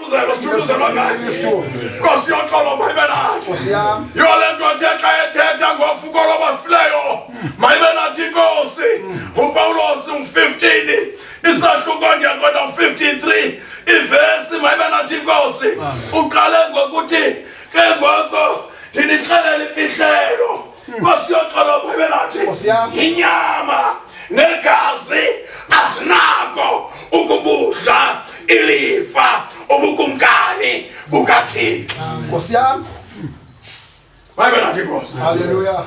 Uzelo sithuluzelo ngayo. Nkosi yoxolo mayibe nathi. Yole nto athe xa ethetha ngofuko lwabafileyo mayibe nathi inkosi. UPawulos u-15 isahluko ndiyakwenda u-53 ivesi mayibe nathi inkosi. Uqale ngokuthi ke ngoko ndinixelela imfihlelo. Hmm. Nkosi yoxolo Bhayibhile athi inyama negazi asinako ukubudla ilifa ubukumkani bukaThixo. Nkosi yami. Bhayibhile athi Nkosi. Hallelujah.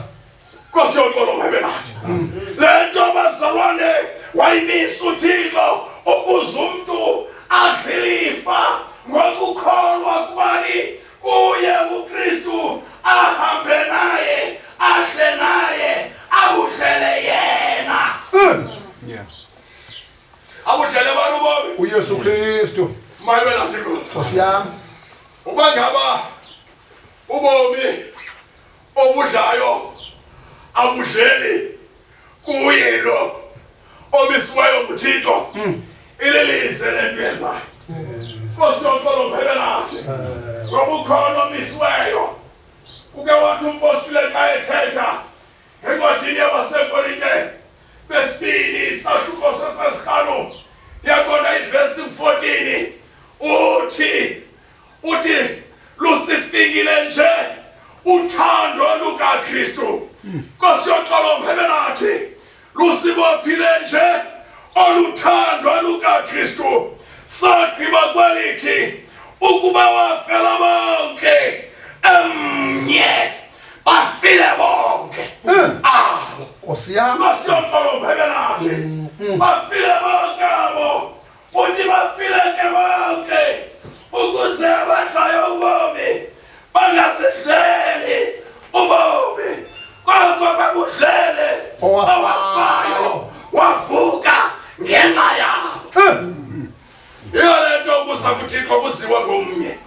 Nkosi yoxolo Bhayibhile athi. Hmm. Le nto bazalwane wayimisa uThixo ukuze umuntu adlilifa ngokukholwa kubani kuye uKristu ahambe naye adle naye akudlele yena Yeah. akudlele abantu bomi UYesu Kristu. mayelwe nasikho Nkosi yami. uba ngaba ubomi obudlayo abudleli kuye lo omisiweyo nguthixo hmm. ililize le nto yenzayo nkosi yoxolo mphele nathi ngoba eh. ukhona omisiweyo uke wathi umpostile xa ethetha encwadini yabasekorinte besibini isahluko sesesihlanu yaqonda ivesi 14 uthi uthi lusifikile nje uthando lukaKristu Nkosi yoxolo mhebe nathi lusibophile nje oluthandwa lukaKristu sagqiba kwelithi ukuba wafela bonke emnye bafile bonke hmm. ah Nkosi yami Nkosi yoxolo mhebe nathi hmm, hmm. bafile bonke abo futhi bafileke bonke ukuze abadlayo ubomi bangasidleli ubomi koko babudlele owafayo wavuka ngenxa yabo eh. yiyo le nto ukusa kuthixo kuziwa ngomnye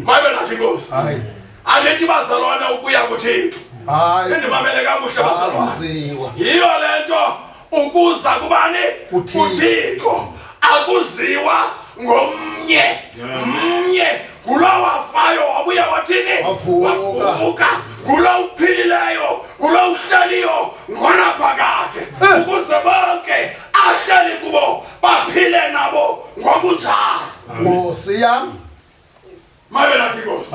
mayibe nathi inkosi andithi bazalwana ukuya kuthixo indimamele kakuhle bazalwana yiyo le nto ukuza kubani uthixo akuziwa ngomnye mnye ngulo wafayo wabuya wathini wavuka ngulo uphilileyo ngulo uhleliyo ngona phakade eh. ukuze bonke ahleli kubo baphile nabo ngokunjalo nkosi yam mabe nathi nkosi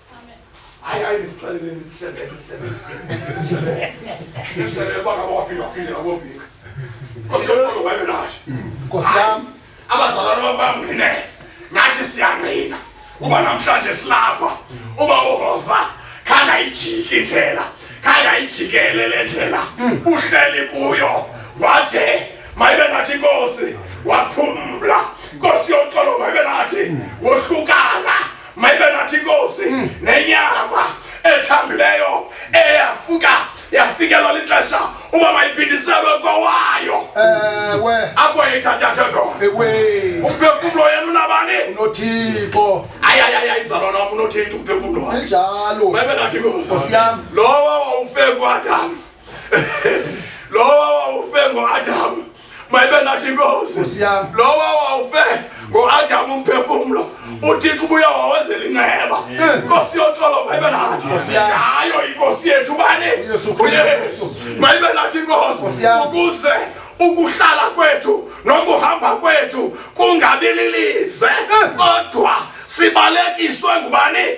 hayi hayi ndisixelele ndisihleleke sihleleke ndisihleleke uba ngaba waphinde waphinde nabobika osiyokolo wabe nasho nkosi yam abazalwana bam bamngqinele nathi siyangqina uba namhlanje silapha uba uhoza khanga ijiki indlela khanga ijikele le ndlela uhleli kuyo wade mayibe nathi inkosi waphumla nkosi yoxolo mayibe nathi wohlukana mayibe nathi inkosi hmm. nenyama ethambileyo eyafuka yafikelwa lixesha uba mayiphindiselwe kowayo ewe apho yayithatyathwe khona ewe umphefumlo yena unabani unothixo ayayaya inzalo nam unothixo umphefumlo wayo njalo mayibe nathi inkosi lowo wawufekwadam Lowa wawufe ngoAdam. Mayibe nathi inkosi. Lowa wawufe ngoAdam umphefumulo. UThixo ubuya wawenzela inceba. Inkosi yoxolo mayibe nathi. Hayo inkosi yethu bani? UYesu. Mayibe nathi inkosi ukuze ukuhlala kwethu nokuhamba kwethu kungabililize kodwa sibalekiswe ngubani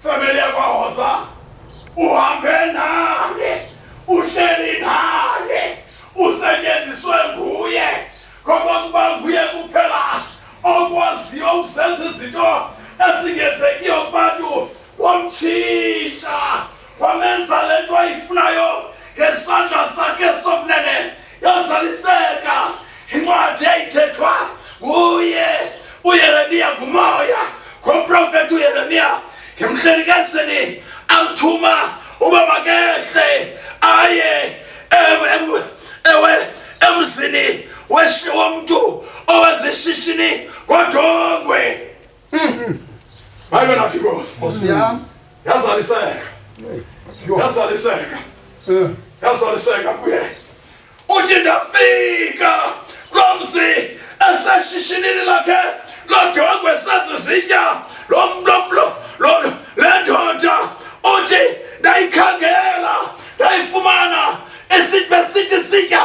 Familia kwa hosa uhambe naye, uhleli naye, usetyenziswe nguye ngoba kuba nguye kuphela okwaziyo ukusenza izinto ezingenzekiyo kubantu wamtshintsha wamenza le nto ayifunayo ngesandla sakhe sokunene yazaliseka incwadi eyayithethwa nguye uyeremiya ngumoya ngomprofeti uyeremiya ngemhlenikezeni amthuma uba makehle aye ewe emzini womntu owenza ishishini ngodongwe Hmm. Hayi wena Nkosi. Nkosi yam. Yazaliseka. Yazaliseka. Eh. Yazaliseka kuye. Uthi ndafika lo mzi eseshishinini lakhe lodongwe sazizitya lo mlomlo lo le ndoda uthi ndayikhangela ndayifumana isitya sitya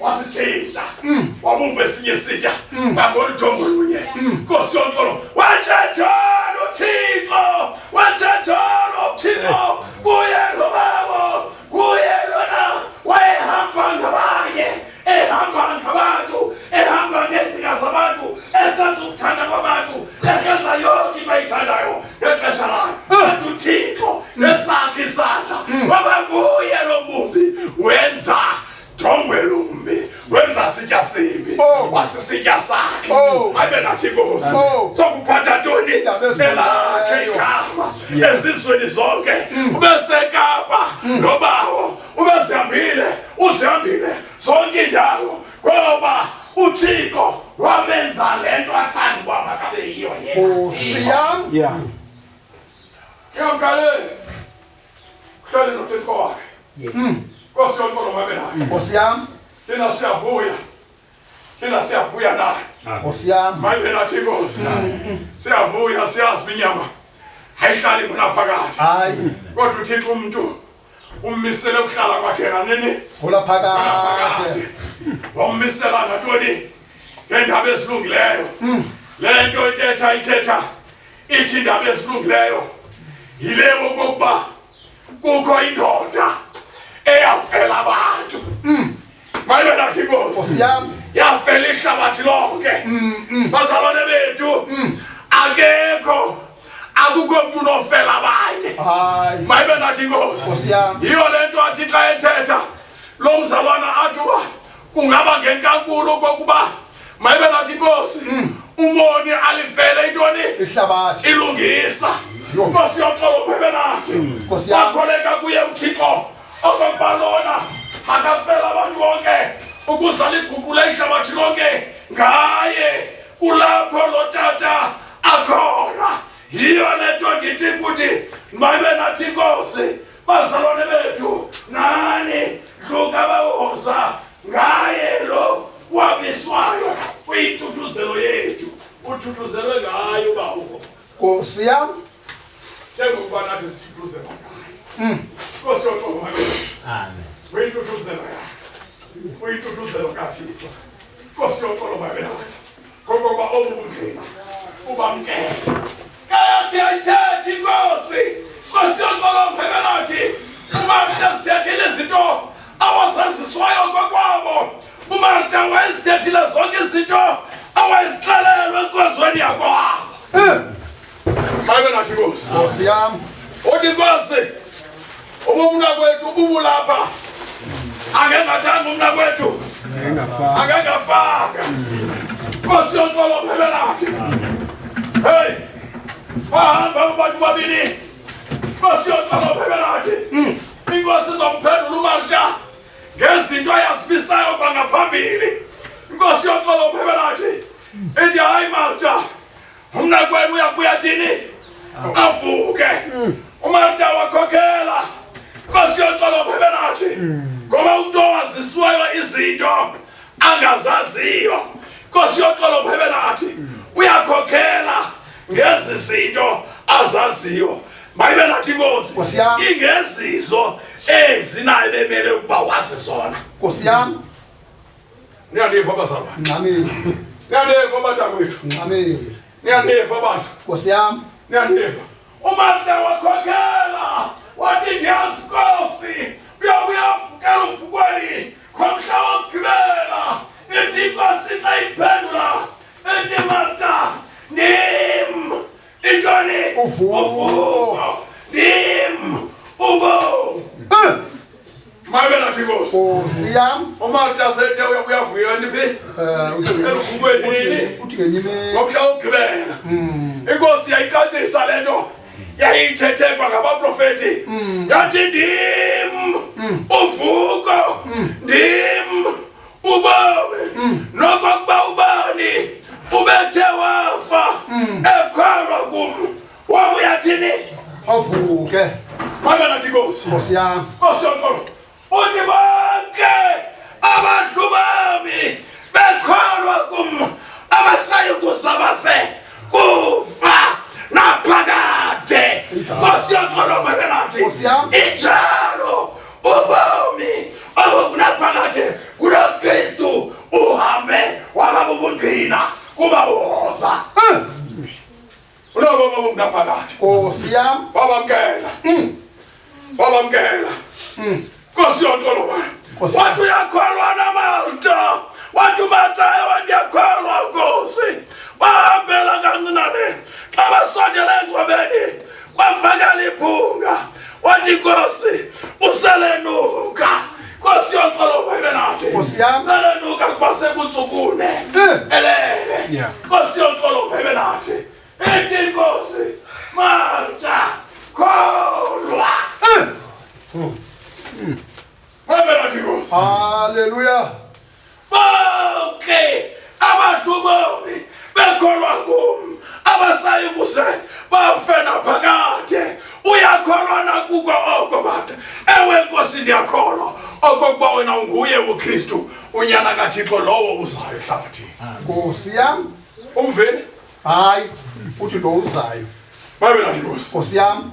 wasitshintsha mm. wabumba esinye isitya mm. ngangoluthongo lunye mm. nkosi yonkolo watshatshana uthixo watshatshana uthixo kuye lobabo kuye lona wayehamba ngabanye ehamba ngabantu ehamba ngeendlela zabantu esenza ukuthanda kwabantu esenza yonke into ayithandayo ngexesha layo kanti uthixo nesakhe isandla waba kuye lo mbumbi wenza Jongwelumbi wenza sitya sibi oh. wasisitya sakhe oh. abe nathi inkosi oh. sokuphatha ntoni elakhe igama ezizweni zonke mm. ubesekapa mm. nobawo ubezihambile uzihambile zonke indawo ngoba uthixo wamenza le nto athanda uba makabe yiyo yena yam yamkaleni Kuhlale nothethwa wakhe. Yeah. Mm. Nkosi yonke lomamela. Nkosi yami. Thina siyavuya. Thina siyavuya naye. Nkosi yami. Mayibe nathi Nkosi. Siyavuya siyazi inyama. Hayihlali mina phakathi. Hayi. Kodwa uThixo umuntu ummisele ukuhlala kwakhe nganini? Ngola phakathi. Wammisela ngatoni? Ngendaba ezilungileyo. Mm. Le nto ithetha ithetha ithi indaba ezilungileyo yile okokuba kukho indoda eyavela abantu mm. mayibe nathi inkosi yavela ihlabathi lonke mm, mm. bazalwane bethu akekho akukho mntu unofela abanye mayibe nathi inkosi yiyo le nto athi xa ethetha lo mzalwana athi uba kungaba ngenkankulu kokuba mayibe ngathi inkosi mm. umoni alivele intoni ihlabathi ilungisa nkosi yoxolo uphebe nathi mm. wakholeka kuye uthixo ozokubalona akafela abantu bonke ukuze liguqule ihlabathi lonke ngaye kulapho lo tata akhona yiyo le nto ndithi kuthi mayibe nathi inkosi bazalwane bethu nani luka bawoza ngaye lo wamiswayo kwithuthuzelo yethu uthuthuzelwe ngayo uba uhoza nkosi yam njengokuba nathi sithuthuzela ngayo mm. nkosi yoqoba uyithuthuzelo yakhe uyithuthuzelo kathixo nkosi yoqolo babe nathi ngoba obunzima ubamkele kayathi ayithethi inkosi nkosi yoxolo mphekanathi umarta zithethile izinto awazaziswayo kwakwabo umarta wayezithethile zonke izinto awayezixelelwe enkonzweni yakwabo eh. Amen na shigozi. Bosi yam. Oti kwase. Ubumna kwethu ububulapha. Angengathanga umna kwethu. Angengafaka. Angengafaka. Nkosi yonkolo phela nathi. Hey. Bahamba abantu babini. Nkosi yonkolo phela nathi. Hmm. Inkosi izomphendula uMarsha ngezinto ayazibisayo kwangaphambili. Nkosi yonkolo phela nathi. Ithi hayi Martha. umnakwenu uyabuya thini avuke umarta wakhokela nkosi yoxolo phebe nathi ngoba umntu owaziswayo izinto angazaziyo nkosi yoxolo phebe nathi uyakhokhela ngezi zinto azaziyo mayibe nathi inkosi ingezizo ezinayo bemele ukuba wazi zona nkosi yam Niyandiva bazalwa. Ngxamile. Niyandiva batakwethu. Ngxamile. Niyandiva bantu. Nkosi yam. Niyandiva. Umarta wakhokela wathi ndiyazi Nkosi uyakuyavukela uvukweni ngomhla wokugqibela ithi Nkosi xa iphendula ithi Marta ndim Ijoni! Uvuko! Uvuko! Dim! Ubo! Eh! Mabe na tibosi. Oh, siyam. Uma utasethe uyakuyavuya niphi? Eh, uthi elufukweni nini? Uthi ngenyime. Ngokusha ukugibela. Mm. Inkosi yayicacisa lento. Yayithethekwa ngabaprofeti. Mm. Yathi ndim. Mm. Uvuko. Mm. Ndim. ubani nokokuba ubani ubethe wafa ekholwa kum wabuyathini avuke makanati kosi nkosi yam nkosi yonkolo uthi bonke abadlu bami bekholwa kum abasayi kuza bafe kufa naphakade nkosi yonkolo makanati injalo ubomi obukunaphakade kulo kristu uhambe waba bubundina kuba uhoza ulobo bobukunaphakade nkosi yam wabamkela hmm. wabamkela hmm. nkosi yontoloma wathi uyakholwa namarta wathi umatayo wathi yakholwa nkosi bahambela kancinane xa basondela engcwabeni Kwavakala ibhunga wathi Nkosi uselenuka Nkosi yoxolo bayibe nathi Nkosi yami selenuka kuba sekuntsukune eh. elele Nkosi yoxolo bayibe nathi ethi Nkosi Marta kholwa eh. hmm. Hmm. Haleluya! Bonke abantu bomi bekholwa kum abasayi kuze bafe naphakade. Uyakholwa na kuko oko bata? Ewe Nkosi, ndiyakholwa okokuba wena unguye uKristu, unyana kaThixo lowo uzayo ehlabathini. Nkosi yam, umveni? Hayi, uthi lo uzayo. Babe nathi Nkosi. Nkosi yam.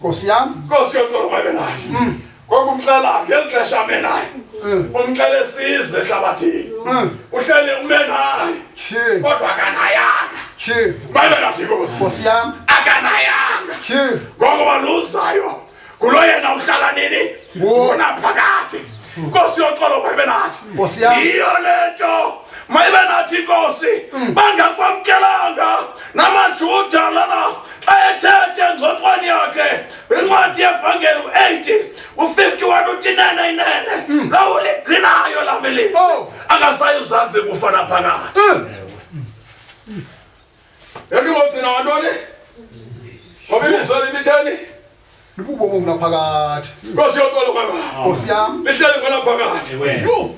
Nkosi yam. Nkosi yocela umabe naye. Mm. Ngokumxela ngeli xesha ame naye. Mm. Umxele size ehlabathini. Mm. Uhleli ume naye. Chief. Kodwa akanayanga. Chief. Mabe nathi Nkosi. Nkosi yam. Akanayanga. Chief. Ngokuba luzayo. Kulo yena uhlala nini? Wona phakade. mm. Nkosi yoxolo mayibe nathi yiyo le nto mayibe nathi inkosi mm. bangakwamkelanga namajuda lana xa ethethe engxoxweni yakhe incwadi yevangeli u-80 u-51 utinene inene mm. lowo ligcinayo la melisi oh. angasayi uzave kufa naphakathi Yandingogcina wantoni? Ngoba ilizwe limitheni? Libubobo kunaphakathi. Nkosi yonkolo kwaba. Nkosi yam. Lihlele ngonaphakathi.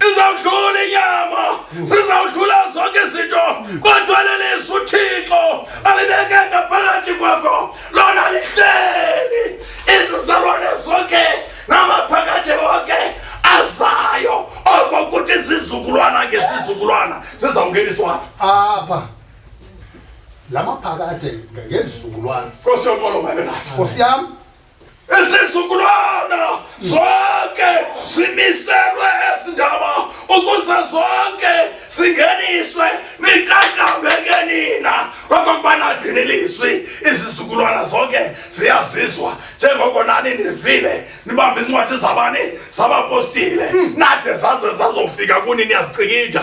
Izawudlula inyama. Sizawudlula zonke izinto. Kodwa lelisi uThixo alibeke ngaphakathi kwakho. Lona lihleli izizalwane zonke namaphakathi wonke azayo. Oko kuthi izizukulwana ngezizukulwana zizawungeniswa apha. la maphakade ngezukulwana Nkosi yonkolo ngabe nathi. nkosi yam Isizukulwana zonke simiselwe ezindaba ukuze zonke singeniswe niqaqambeke nina kwakuba nadini ilizwi izizukulwana zonke ziyazizwa njengoko nani nivile nibambe izincwadi zabani zabapostile nade zaze zazofika kuni niyazicikija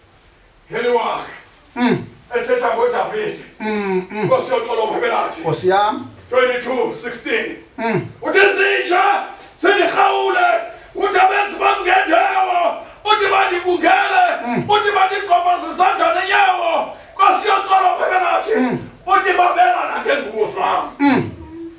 Heli wakhe. Mm. Ethetha ngoDavide. Mm. mm. Nkosi yoxolo mhebelathi. Nkosi yami. 22:16. Mm. Uthi zinja sendirhawule uthi abenzi bamngendawo uthi bandikungele mm. uthi bandigqobhaza izandla nenyawo nkosi yoxolo mhebelathi. Mm. Uthi babelana ngengubo zam. Mm.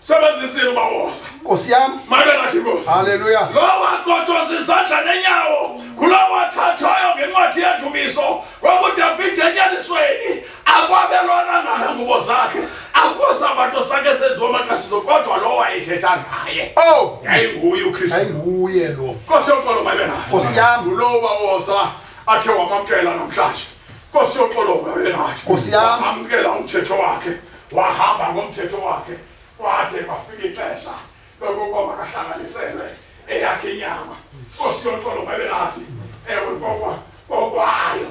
sebenzisile ubawoza nkosi yam mabe nathi nkosi haleluya lowa kotshoza izandla nenyawo kulowa thathayo ngencwadi yethumiso kwakudavide enyanisweni akwabelwana ngayo ngubo zakhe akusabato sakhe senziwa amaqashiso kodwa lowo wayethetha ngaye ow oh! yayinguye ukristu yayinguye lo nkosi yoxolo mabe nathi nkosi yam ngulowo bawoza athe wamamkela namhlanje nkosi yoxolo mabe nathi nkosi yam amkela umthetho wakhe wahamba ngomthetho wakhe kwade kwafika ixesha lokokuba makahlanganiselwe eyakhe inyama nkosi yoxolo mabenathi ewe kokwa kokwayo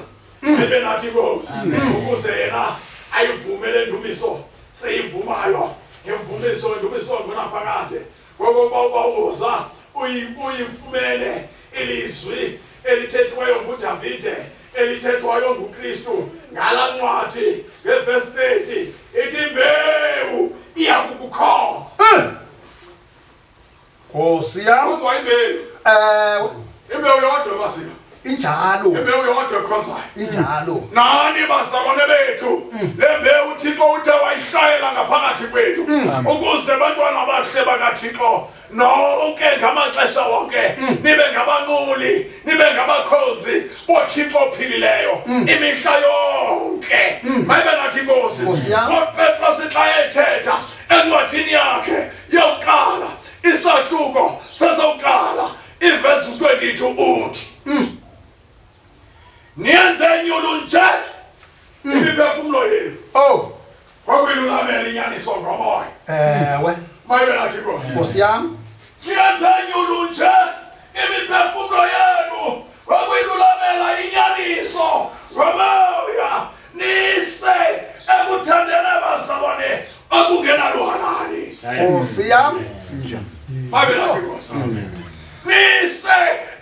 ebenathi inkosi ukuze yena ayivumele indumiso seyivumayo ngemvumiso indumiso ngonaphakade ngoko uba ubawuza uyifumene ilizwi elithethwayo ngudavide elithethwayo ngukristu ngala ncwadi ngevesi 30 ithi mbewu iya kukukhoza nkosi yam kodwa imbewu um imbewu yodwa masina injalo imbewu yodwa ekhozayo injalo nani bazalwane bethu mm. le mbewu uthixo uthe wayishayela ngaphakathi kwethu mm. ukuze abantwana abahle bakathixo nonke ngamaxesha wonke mm. nibe ngabanquli nibe ngabakhozi bothixo ophilileyo imihla yonke mayibe nathi inkosi ngopetros xa ethetha encwadini yakhe yokuqala isahluko sesokuqala Ivesi 22 uthi mm. niyenze nyulu nje mm. imiphefumulo yenu oh kwakuyilulamela inyaniso ngomoya ewe mayibe nathi nkosi yam niyenze nyulu nje imiphefumulo yenu kwakuyilulamela inyaniso ngomoya nkosi yam nise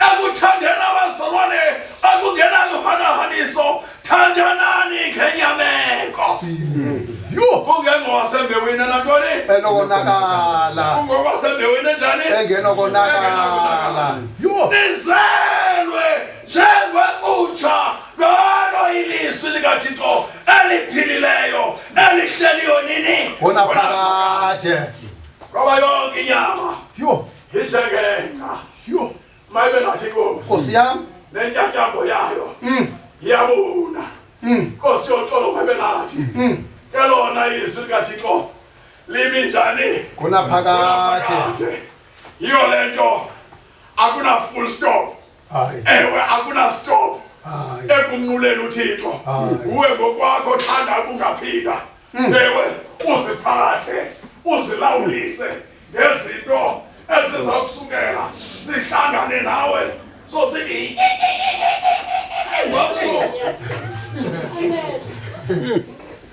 ekuthandeni abazalwane akungenaluhanahaniso thandanani ngenyameko ungengowasembewini nantoni enokonakala ungowasembewini njani engenokonakala nizelwe njengwekutsha Ngalo ilizwi likaThixo eliphilileyo elihleliyo nini? Wona phakade. Ngoba yonke inyama. Yho. Injengengca. Yho. Mayibe ngathi inkosi. Nkosi yam. Nentyatyambo yayo. Mm. Iyabuna. Mm. Nkosi yoxolo mayibe ngathi. Mm. Kelona izwi likaThixo limi njani? Kunaphakade. Yiyo le nto akuna full stop. ewe akuna stop ekumnquleni uthixo uwe ngokwakho thanda ubungaphila hmm. ewe uziphathe uzilawulise ngezinto eziza kusukela sihlangane nawe so sithi ngomsuku